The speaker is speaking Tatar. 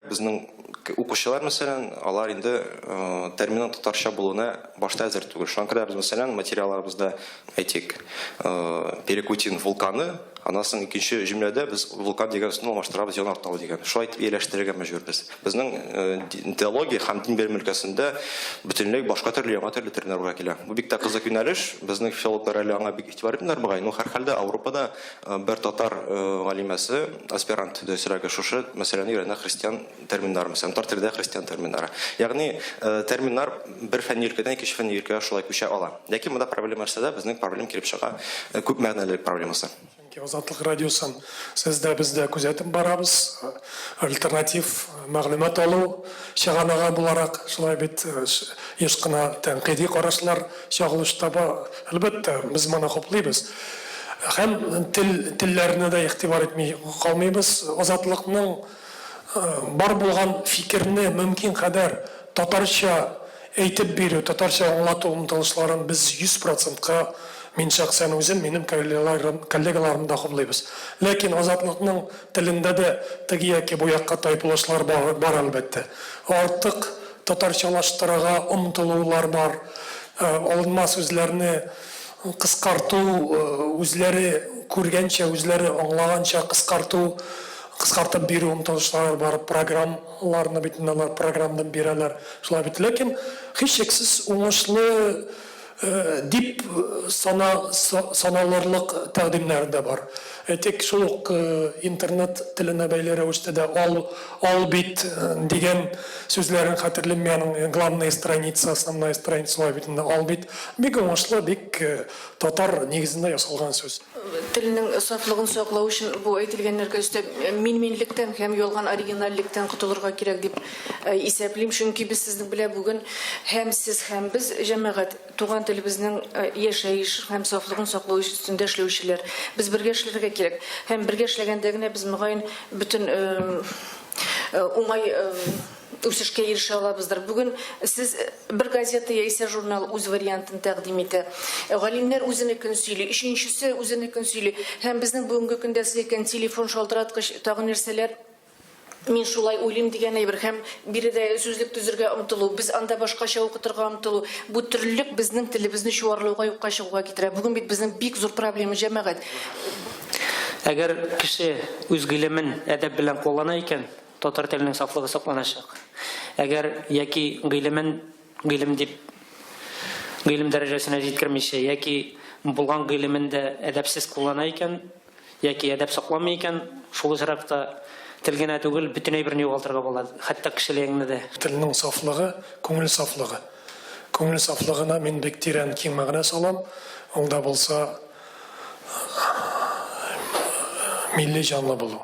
Безнең укучылар, мәсәлән, алар инде терминның татарча булуына башта әзер түгел. Шуңа күрә без, мәсәлән, материалларыбызда, әйтик, Перекутин вулканы, аннан соң икенче җөмләдә без вулкан дигән сүзне алмаштырабыз янартау дигән. Шулай итеп ияләштерергә мәҗбүрбез. Безнең теология һәм дин белеме өлкәсендә бөтенләй башка төрле, яңа төрле терминнар уйга килә. Бу бик тә кызык юнәлеш. Безнең филологлар әле аңа бик игътибар итмиләр, мөгаен. Ну, һәрхәлдә, Ауропада Бер татар галимәсе, аспирант Дәүсирәгә шушы мәсьәләне өйрәнә христиан терминнары, мәсәлән, татар телендә христиан терминнары. Ягъни терминнар бер фәнни өлкәдән икенче фәнни өлкәгә шулай күчә ала. Ләкин монда проблема нәрсәдә? Безнең проблем килеп чыга күп мәгънәлелек проблемасы. Чөнки Азатлык радиосын сез дә, без дә күзәтеп барабыз. Альтернатив мәгълүмат алу чыганагы буларак, шулай бит, еш кына тәнкыйди карашлар. Чагылыш таба, әлбәттә, без моны хуплыйбыз. Һәм тел, телләрне дә игътибар итми калмыйбыз. Азатлыкның бар булган фикерне мөмкин кадәр татарча әйтеп бирү, татарча аңлату омтылышларын без 100 процентка, мин шәхсән үзем, минем коллегаларым, коллегаларым да хуплыйбыз. Ләкин Азатлыкның телендә дә теге яки бу якка тайпылышлар бар, бар, әлбәттә. Артык. татарчалаштырырга омтылулар бар, алынма сүзләрне кыскарту, үзләре күргәнчә, үзләре аңлаганча кыскарту, кыскартып бирү омтылышлары бар, программаларны бит инде алар программдап бирәләр, шулай бит. Ләкин, һичшиксез, уңышлы. Дип сана саналырлык тәкъдимнәр дә бар. Әйтик, шул ук интернет теленә бәйле рәвештә дә ал ал бит дигән сүзләрен хәтерлим мин аның главная страница, основная страница шулай бит инде, ал бит. Бик уңышлы, бик татар нигезендә ясалган сүз. Телнең сафлыгын саклау өчен бу әйтелгәннәргә өстәп, мин-минлектән һәм ялган оригинальлектән котылырга кирәк, дип Исәплим, чөнки без сезнең белән бүген һәм сез, һәм без, җәмәгать, туган телебезнең яшәеш һәм сафлыгын саклау өстендә эшләүчеләр. Без бергә эшләргә кирәк. Һәм бергә эшләгәндә генә без, мөгаен, бөтен уңай үсешкә ирешә алабыздыр. Бүген сез бер газета яисә журнал үз вариантын тәкъдим итә. Галимнәр үзенекен сөйли, өченчесе үзенекен сөйли. Һәм безнең бүгенге көндә сез әйткән телефон шалтыраткыч, тагын нәрсәләр, Мин шулай уйлыйм, дигән әйбер һәм биредә сүзлек төзергә омтылу, без анда башкача укытырга омтылу, бу төрлелек безнең телебезне чуарлауга, юкка чыгуга китерә. Бүген бит безнең бик зур проблема, җәмәгать. Әгәр кеше үз гыйлемен әдәп белән куллана икән, татар теленең сафлыгы сакланачак. Әгәр яки гыйлемен гыйлем дип гыйлем дәрәҗәсенә җиткермичә, яки булган гыйлемен дә әдәпсез куллана икән, Яки әдәп сакламый икән, шул очракта тел генә түгел, бөтен әйберне югалтырга була, хәтта кешелегеңне дә. Телнең сафлыгы, күңел сафлыгы. Күңел сафлыгына мин бик тирән, киң мәгънә салам. Ул да булса, милли җанлы булу.